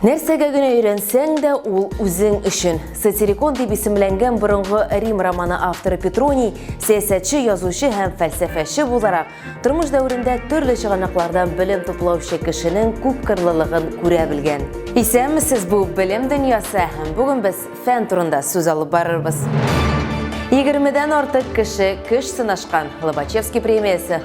Нәрсәгә генә өйрәнсәң дә, ул үзең өчен. Сатирикон дип исемләнгән борынгы Рим романы авторы Петроний сәясәтче, язучы һәм фәлсәфәче буларак тормыш дәверендә төрле чыганаклардан белем туплаучы кешенең күпкырлылыгын күрә белгән. Исәнмесез, бу белем дөньясы һәм бүген без фән турында сүз алып барырбыз. Егермедән артык кеше көч сынашкан Лобачевский премиясе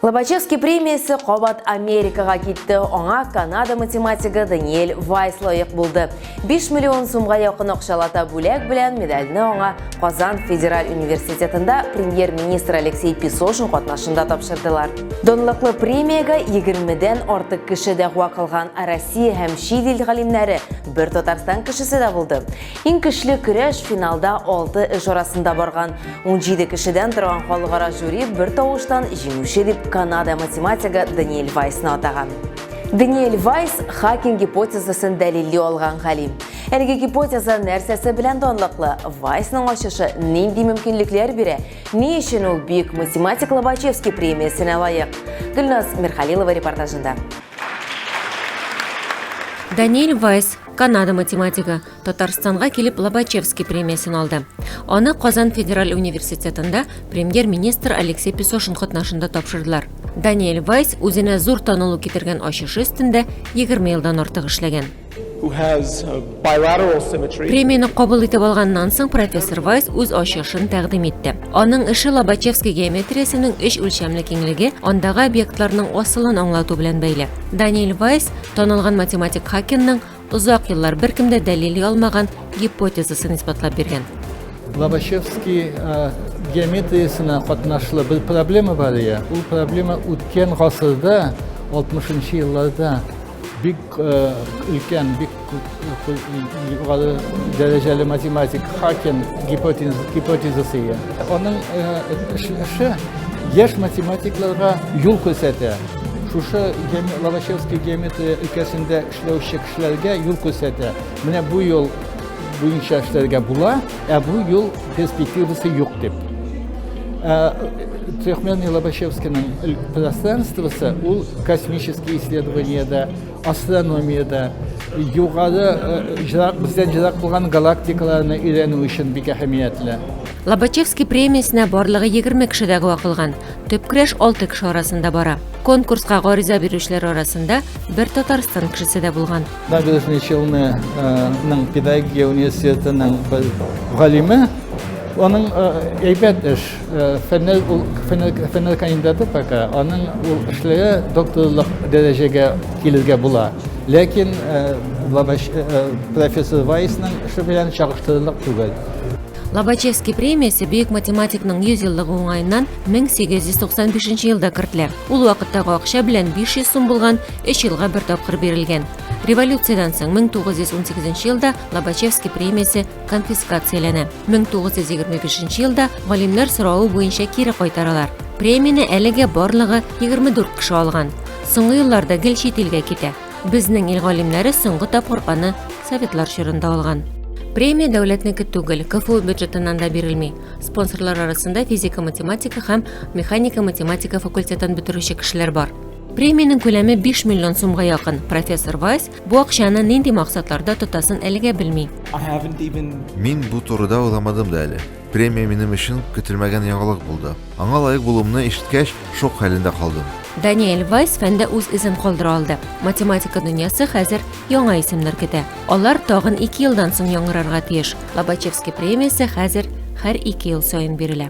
Лобачевский премиясе кабат Америкага китте, аңа Канада математигы Даниэль Вайс лаек булды. 5 миллион сумга якын акчалата бүләк белән медальне аңа Казан федераль университетында премьер-министр Алексей Песошин катнашында тапшырдылар. Донлыклы премиягә 20-дән артык кеше дәгъва кылган Россия һәм чит ил галимнәре, бер Татарстан кешесе дә булды. Иң көчле көрәш финалда алты эш арасында барган. Унҗиде кешедән торган халыкара жюри бер тавыштан җиңүче дип Канада математигы Даниэль Вайсны атаган. Даниэль Вайс Хакинг гипотезасын дәлилли алган галим. Әлеге гипотеза нәрсәсе белән данлыклы? Вайсның ачышы нинди мөмкинлекләр бирә? Ни өчен ул бөек математик Лобачевский премиясенә лаек? Гөлназ Мирхалилова репортажында. Даниэль Вайс Канада математигы Татарстанга килеп Лобачевский премиясен алды. Аны Казан федераль университетында премьер-министр Алексей Песошин катнашында тапшырдылар. Даниэль Вайс үзенә зур танылу китергән ачышы өстендә 20 елдан артык эшләгән. Премияне кабул итеп алганнан соң профессор Вайс үз ачышын тәкъдим итте. Аның эше Лобачевский геометриясенең өч үлчәмле киңлеге, андагы объектларның асылын аңлату белән бәйле. Даниэль Вайс танылган математик Хакенның озак еллар беркем дә дәлили алмаган гипотезасын исбатлап биргән. Лобачевский э, геометриясенә катнашлы бер проблема бар ия. Ул проблема үткән гасырда 60 нчы елларда бик э, өлкән, бик Югары дәрәҗәле математик Хакен гипотезасы ия. Аның эше яшь математикларга юл күрсәтә. Шушы Лобачевский геометрия өлкәсендә эшләүче кешеләргә юл күрсәтә. Менә бу юл буенча эшләргә була, ә бу юл перспективасы юк дип. Трехмерный Лобачевскийның пространствосы ул космические исследования да Астрономиядә югары җырак бездән җырак булган галактикаларны өйрәнү өчен бик әһәмиятле. Лобачевский премиясенә барлыгы 20 кеше дәгъва кылган. Төп көрәш 6 кеше арасында бара. Конкурска гариза бирүчеләр арасында бер Татарстан кешесе дә булган. Набережный Челнының педагогия университетының бер галиме, аның әйбәт эш Фәннәр ул фәннәр кандидаты пока, аның ул эшләре докторлык дәрәҗәгә килергә була. Ләкин профессор Вайсның эше белән чагыштырырлык түгел. Лобачевский премиясе бөек математикның 100 еллыгы уңаеннан 1895 елда кертелә. Ул вакыттагы акча белән 500 сум булган, 3 елга бер тапкыр бирелгән. Революциядән соң 1918 елда Лобачевский премиясе конфискацияләнә. 1925 елда галимнәр соравы буенча кире кайтаралар. Премияне әлегә барлыгы 24 кеше алган. Соңгы елларда гел чит илгә китә. Безнең ил галимнәре соңгы тапкыр аны советлар чорында алган. Премия дәүләтнеке түгел, КФУ бюджетыннан да бирелми. Спонсорлар арасында физика-математика һәм механика-математика факультетын бетерүче кешеләр бар. Премиянең күләме 5 миллион сумга якын. Профессор Вайс Бу акчаны нинди максатларда тотасын әлегә белми. Мин бу турыда уйламадым да әле. Премия минем өчен көтелмәгән яңалык булды. Аңа лаек булуымны ишеткәч, шок хәлендә калдым. Даниэль Вайс фәндә үз эзен калдыра алды. Математика дөньясы хәзер яңа исемнәр көтә. Алар тагын ике елдан соң яңгырарга тиеш. Лобачевский премиясе хәзер һәр ике ел саен бирелә.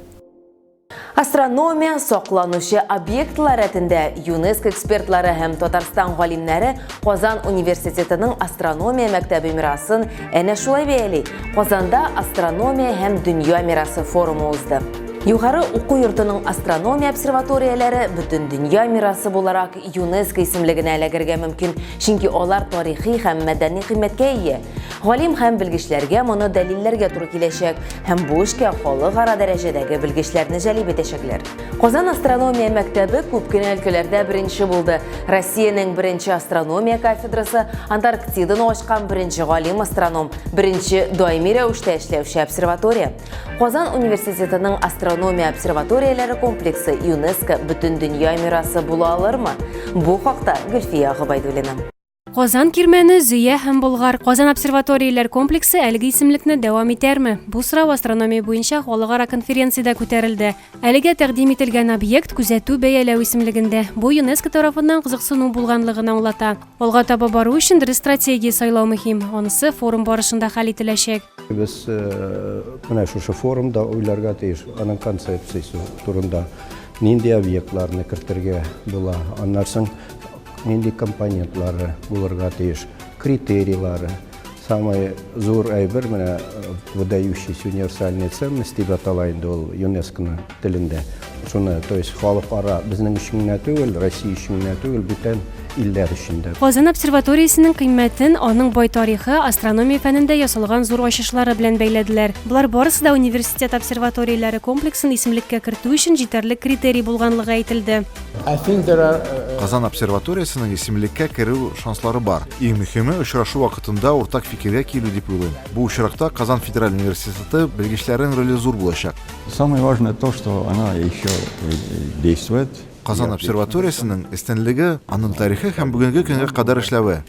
Астрономия сокланучы объектлар рәтендә ЮНЕСКО экспертлары һәм Татарстан галимнәре Казан университетының астрономия мәктәбе мирасын әнә шулай бәяли. Казанда астрономия һәм дөнья мирасы форумы узды. Югары уку йортының астрономия обсерваторияләре бөтен дөнья мирасы буларак ЮНЕСКО исемлегенә эләгергә мөмкин, чөнки алар тарихи һәм мәдәни кыйммәткә ия. Галим һәм белгечләргә моны дәлилләргә туры киләчәк. һәм бу эшкә халыкара дәрәҗәдәге белгечләрне җәлеп итәчәкләр. Казан астрономия мәктәбе күп кенә өлкәләрдә беренче булды. Россиянең беренче астрономия кафедрасы, Антарктиданы ачкан беренче галим-астроном, беренче даими рәвештә эшләүче обсерватория. Казан университетының астрономия обсерваторияләре комплексы ЮНЕСКО бөтен дөнья мирасы була алырмы? Бу хакта Гөлфия Гобайдуллина. Казан Кирмәне, Зөя һәм Болгар Казан обсерваторияләр комплексы әлеге исемлекне дәвам итәрме? Бу сорау астрономия буенча халыкара конференциядә күтәрелде. Әлегә тәкъдим ителгән объект күзәтү бәяләү исемлегендә. Бу ЮНЕСКО тарафыннан кызыксыну булганлыгын аңлата. Алга таба бару өчен дөрес стратегия сайлау мөһим. Анысы форум барышында хәл ителәчәк. Без э, менә шушы форумда уйларга тиеш аның концепциясе турында. Нинди объектларны кертергә була, аннан соң нинди компонентлары булырга тиеш, критерийлары. Самый зур әйбер менә э, выдающийся универсальная ценность дип атала инде ул ЮНЕСКОның телендә. Шуны, то есть халыкара безнең өчен генә түгел, Россия өчен генә түгел, бүтән илләр өчен дә. Казан обсерваториясенең кыйммәтен аның бай тарихы, астрономия фәнендә ясалган зур ачышлары белән бәйләделәр. Болар барысы да университет обсерваторияләре комплексын исемлеккә кертү өчен җитәрлек критерий булганлыгы әйтелде. Казан обсерваториясенең исемлеккә керү шанслары бар. Иң мөһиме, очрашу вакытында уртак фикергә килү дип уйлыйм. Бу очракта Казан федераль университеты белгечләренең роле зур булачак. Самое важное то, что она еще действует. Казан обсерваториясенең эстенлеге, аның тарихы һәм бүгенге көнгә кадәр эшләве.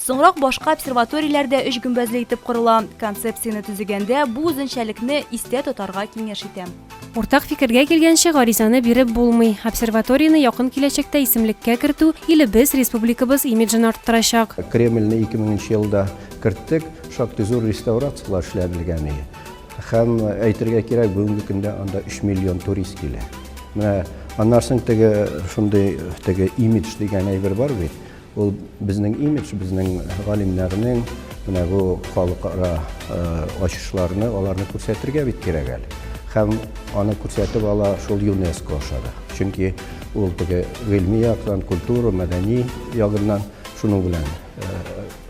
Соңрак башка обсерваторияләр дә өч гөмбәзле итеп корыла. Концепцияне төзегәндә бу үзенчәлекне истә тотарга киңәш итәм. Уртак фикергә килгәнче, гаризаны биреп булмый. Обсерваторияне якын киләчәктә исемлеккә кертү илебез, республикабыз имиджын арттырачак. Кремльне 2000 нче елда керттек, шактый зур реставрацияләр эшләнелгән иде. Һәм әйтергә кирәк, бүгенге көндә анда 3 миллион турист килә. Менә аннан соң теге шундый теге имидж дигән әйбер бар бит. Ул безнең имидж, безнең галимнәрнең менә бу халыкара э, ачышларны, аларны күрсәтергә бит кирәк әле. Һәм аны күрсәтеп ала шул ЮНЕСКО аша да. Чөнки ул теге гыйльми яктан, культура, мәдәни ягыннан шуның белән э,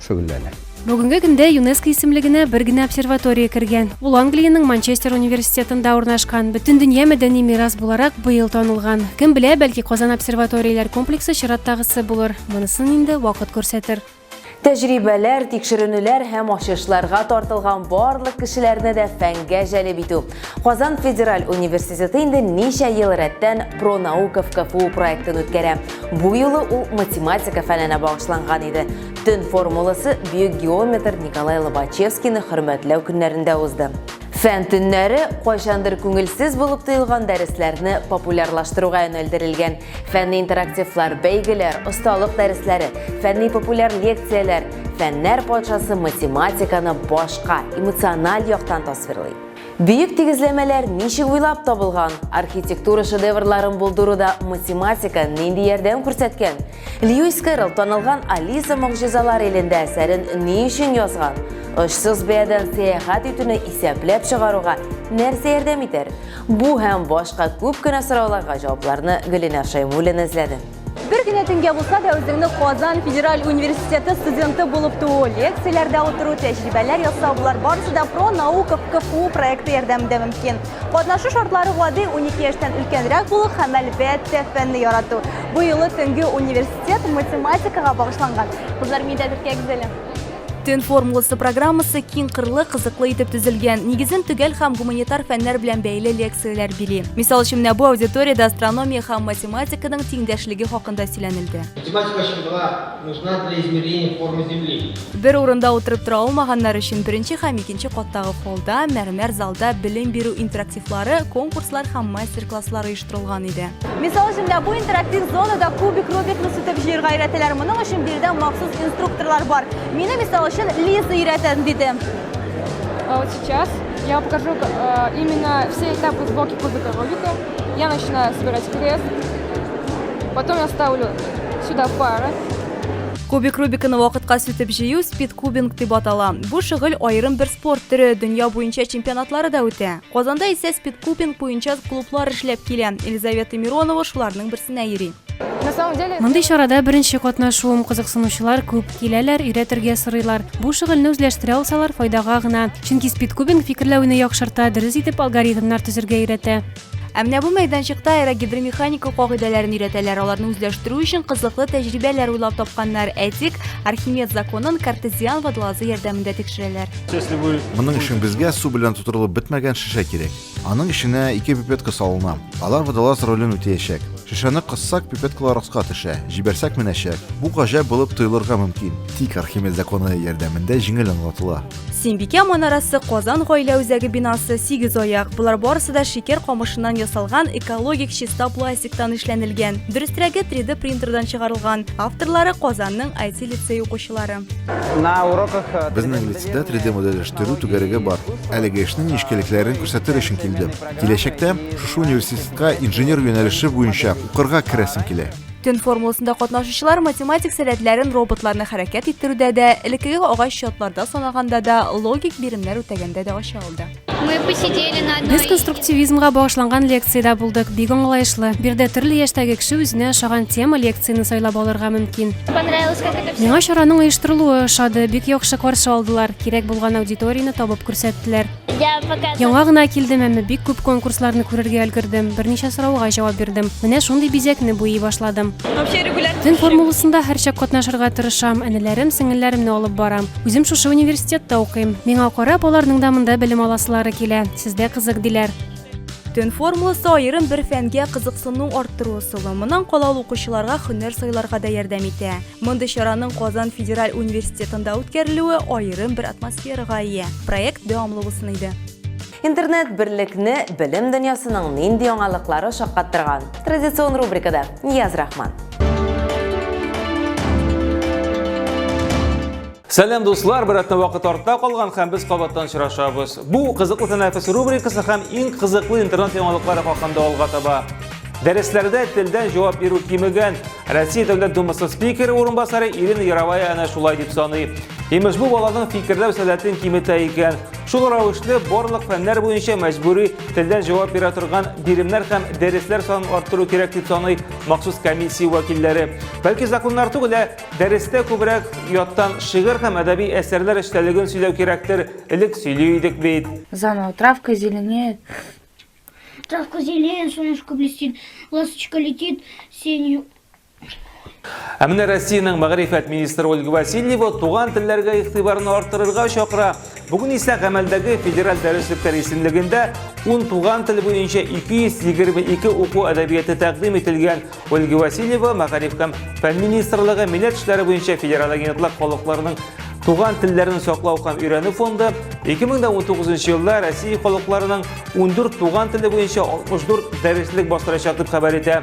шөгыльләнә. Бүгенге көндә ЮНЕСКО исемлегенә бер генә обсерватория кергән. Ул Англиянең Манчестер университетында урнашкан. Бөтендөнья мәдәни мирас буларак быел танылган. Кем белә, бәлки Казан обсерваторияләр комплексы чираттагысы булыр. Монысын инде вакыт күрсәтер. Тәҗрибәләр, тикшеренүләр һәм ачышларга тартылган барлык кешеләрне дә фәнгә җәлеп итү. Казан федераль университеты инде ничә ел рәттән Пронаука в КФУ проектын үткәрә. Бу юлы ул математика фәненә багышланган иде. Төн формуласы бөек геометр Николай Лобачевскийны хөрмәтләү көннәрендә узды. Фән төннәре кайчандыр күңелсез булып тоелган дәресләрне популярлаштыруга юнәлдерелгән. Фәнни интерактивлар, бәйгеләр, осталык дәресләре, фәнни популяр лекцияләр, фәннәр патшасы математиканы башка, эмоциональ яктан тасвирлый. Бөек тигезләмәләр ничек уйлап табылган? Архитектура шедеврларын булдыруда математика нинди ярдәм күрсәткән? Льюис Кэрролл танылган Алиса могҗизалар илендә әсәрен ни өчен язган? Очсыз бәядән сәяхәт итүне исәпләп чыгаруга нәрсә ярдәм итәр? Бу һәм башка күп кенә сорауларга җавапларны Гөлинә Шәймуллина эзләде. Бер генә төнгә булса да үзеңне Казан федераль университеты студенты булып туу, лекцияләрдә утыру, тәҗрибәләр ясау, болар барысы да Про наука в КФУ проекты ярдәмендә мөмкин. Катнашу шартлары гади, унике яшьтән өлкәнрәк булу һәм, әлбәттә, фәнне ярату. Бу юлы төнге университет математикага багышланган. Кызлар, мин дә дүрткә гүзәлем. Төн формуласы программасы киңкырлы, кызыклы итеп төзелгән, нигезен төгәл һәм гуманитар фәннәр белән бәйле лекцияләр били. Мисал өчен менә бу аудиториядә астрономия һәм математиканың тиңдәшлеге хакында сөйләнелде. Математика чынгыла. Нужна для измерения формы Земли. Бер урында утырып тора алмаганнар өчен беренче һәм икенче каттагы холлда, мәрмәр залда белем бирү интерактивлары, конкурслар һәм мастер-класслар оештырылган иде. Мисал өчен дә бу интерактив зонада кубик Рубикны сүтеп җыерга өйрәтәләр. Моның өчен биредә махсус инструкторлар бар. Мине, мисал өчен, Лиза өйрәтә, диде. А вот сейчас я покажу э, именно все этапы сборки кубика Рубика. Я начинаю собирать крест. Потом я ставлю сюда пары. Кубик Рубиканы вакытка сүтеп җыю спид кубинг дип атала. Бу шөгыль аерым бер спорт төре, дөнья буенча чемпионатлары да үтә. Казанда исә спид кубинг буенча клублар эшләп килә. Елизавета Миронова шуларның берсенә йөри. Мондый чарада беренче катнашуым, кызыксынучылар күп, киләләр, өйрәтергә сорыйлар. Бу шөгыльне үзләштерә алсалар, файдага гына. Чөнки спидкубинг фикерләүне яхшырта, дөрес итеп алгоритмнар төзергә өйрәтә. Ә менә бу мәйданчыкта аэрогидромеханика кагыйдәләрен өйрәтәләр, аларны үзләштерү өчен кызыклы тәҗрибәләр уйлап тапканнар. Әйтик, Архимед законын картезиан водолазы ярдәмендә тикшерәләр. Моның өчен безгә су белән тутырылып бетмәгән шешә кирәк. Аның эченә ике пипетка салына. Алар водолаз ролен үтәячәк. Шешәне кыссак, пипеткалар аска төшә, җибәрсәк менәчәк. Бу гаҗәп булып тоелырга мөмкин, тик Архимед законы ярдәмендә җиңел аңлатыла. Сембикә манарасы Казан гаилә үзәге бинасы сигезаяк. Болар барысы да шикәр камышыннан ясалган, экологик чиста пластиктан эшләнелгән. Дөрестерәге, 3D принтердан чыгарылган. Авторлары Казанның IT лицей укучылары. Безнең лицеда 3D модельләштерү түгәрәге бар. Әлеге эшнең нечкәлекләрен күрсәтер өчен килдем. Киләчәктә шушы университетка инженер юнәлеше буенча укырга керәсем килә. Төн формуласында катнашучылар математик сәләтләрен роботларны хәрәкәт иттерүдә дә, элеккеге агач чатларда санаганда да, логик биремнәр үтәгәндә дә ача алды. Без конструктивизмга багышланган лекциядә булдык. Бик аңлаешлы. Бирдә төрле яшьтәге кеше үзенә ошаган тема лекцияне сайлап алырга мөмкин. Миңа чараның оештырылуы ошады. Бик яхшы каршы алдылар. Кирәк булган аудиторияне табып күрсәттеләр. Яңа гына килдем, әмма бик күп конкурсларны күрергә өлгердем. Берничә сорауга җавап бирдем. Менә шундый бизәкне буйый башладым. Төн формуласында һәрчак катнашырга тырышам. Энеләрем, сеңелләремне алып барам. Үзем шушы университетта укыйм. Миңа карап, аларның да монда белем аласылары килә. Сездә кызык диләр. Төн формуласы аерым бер фәнгә кызыксыну арттыру ысулы. Моннан кала ул укучыларга һөнәр сайларга да ярдәм итә. Мондый чараның Казан федераль университетында үткәрелүе аерым бер атмосферага ия. Проект дәвамлы булсын иде. Интернет берлекне белем дөньясының нинди яңалыклары шаккаттырган? Традицион рубрикада Нияз Рахман. Сәлам дуслар, берәтне вакыт артта калган һәм без кабаттан очрашабыз. Бу кызыклы тәнәфес рубрикасы һәм иң кызыклы интернет яңалыклары хакында алга таба. Дәресләрдә телдән җавап бирү кимегән. Россия Дәүләт Думасы спикеры урынбасары Ирина Яровая әнә шулай дип саный. Имеш бу баланың фикерләү сәләтен киметә икән. Шул рәвешле барлык фәннәр буенча мәҗбүри телдән җавап бирә торган биремнәр һәм дәресләр санын арттыру кирәк дип саный махсус комиссия вәкилләре. Бәлки законнар түгел, ә дәрестә күбрәк яттан шигырь һәм әдәби әсәрләр эчтәлеген сөйләү кирәктер, элек сөйли идек бит. Заново травка зеленеет. Травка зеленеет, солнышко блестит, ласточка летит, синь Ә менә Россиянең мәгърифәт министры Ольга Васильева туган телләргә игътибарны арттырырга чакыра. Бүген исә гамәлдәге федераль дәреслекләр исемлегендә 10 туган тел буенча 222 уку әдәбияты тәкъдим ителгән. Ольга Васильева мәгариф һәм фән министрлыгы милләт эшләре буенча федераль агентлык халыкларының туган телләрен саклау һәм өйрәнү фонды 2019 елда Россия халыкларының 14 туган теле буенча 64 дәреслек бастырачак дип хәбәр итә.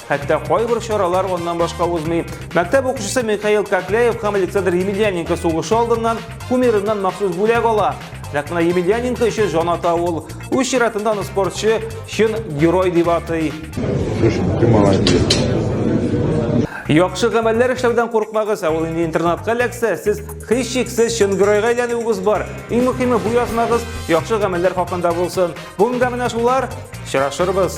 Хәтта кайбер чаралар аннан башка узмый. Мәктәп укучысы Михаил Кокляев һәм Александр Емельяненко сугышы алдыннан кумирыннан махсус бүләк ала. Нәкъ менә Емельяненко өчен җан ата ул. Үз чиратында аны спортчы чын герой дип атый. Яхшы гамәлләр эшләүдән курыкмагыз, ә ул инде интернатка эләксә, сез һичшиксез чын геройга әйләнүегез бар. Иң мөһиме бу язмагыз яхшы гамәлләр хакында булсын. Бүгенгә менә шулар. Очрашырбыз.